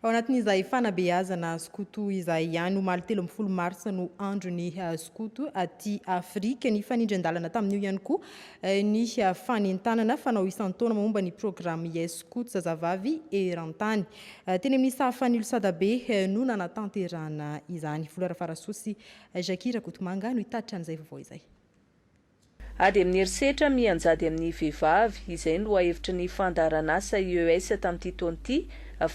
Ao anatin'izay fanabeazana skoto izay ihany, omaly telo ambin'ny folo marsa no andron'ny eh, skoto aty Afrika. Nifanindran-dalana tamin'io ihany koa eh, ny eh, fanentanana fanao isan-taona momba ny programme Yes Scouts zazavavy eran-tany. Teny amin'ny sahafan'ny Ilosadabe no nanatanterahana izany. Volo Rafarasoa sy Jackie Rakotomanga no hitatitra an'izay vaovao izay. Ady amin'ny herisetra mianjady amin'ny vehivavy, izay ny lohahevitry ny fandaharanasa IES tamin'ity taona ity,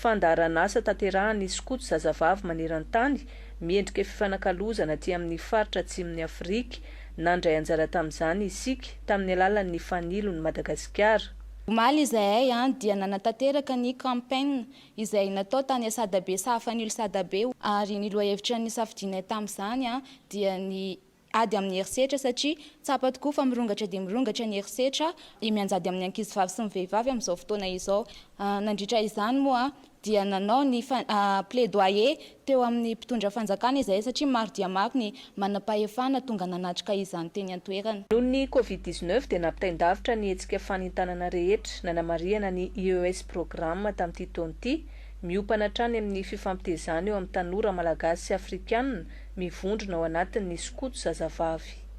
fandaharanasa tanterahan'ny skoto zazavavy maneran-tany, miendrika fifanakalozana aty amin'ny faritra atsimon'i Afrika. Nandray anjara tamin'izany isika, tamin'ny alalan'ny Fanilo ny Madagasikara. Omaly izahay an dia nanatanteraka ny campaign izay natao tany Asadabe Sahafanilo Sadabe ary ny lohahevitra nisafidianay tamin'izany an dia ny ady amin'ny herisetra satria tsapa tokoa fa mirongatra dia mirongatra ny herisetra mianjady amin'ny ankizivavy sy ny vehivavy amin'izao fotoana izao. Nandritra izany moa dia nanao ny plaidoyer teo amin'ny mpitondra fanjakana izahay satria maro dia maro ny manampahefana tonga nanatrika izany teny an-toerana. Noho ny covid dix neuf dia nampitain-davitra ny hetsika fanentanana rehetra nanamarihana ny IES Programme tamin'ity taona ity, miompana hatrany amin'ny fifampitezana eo amin'ny tanora malagasy sy afrikanina mivondrona ao anatin'ny skoto zazavavy.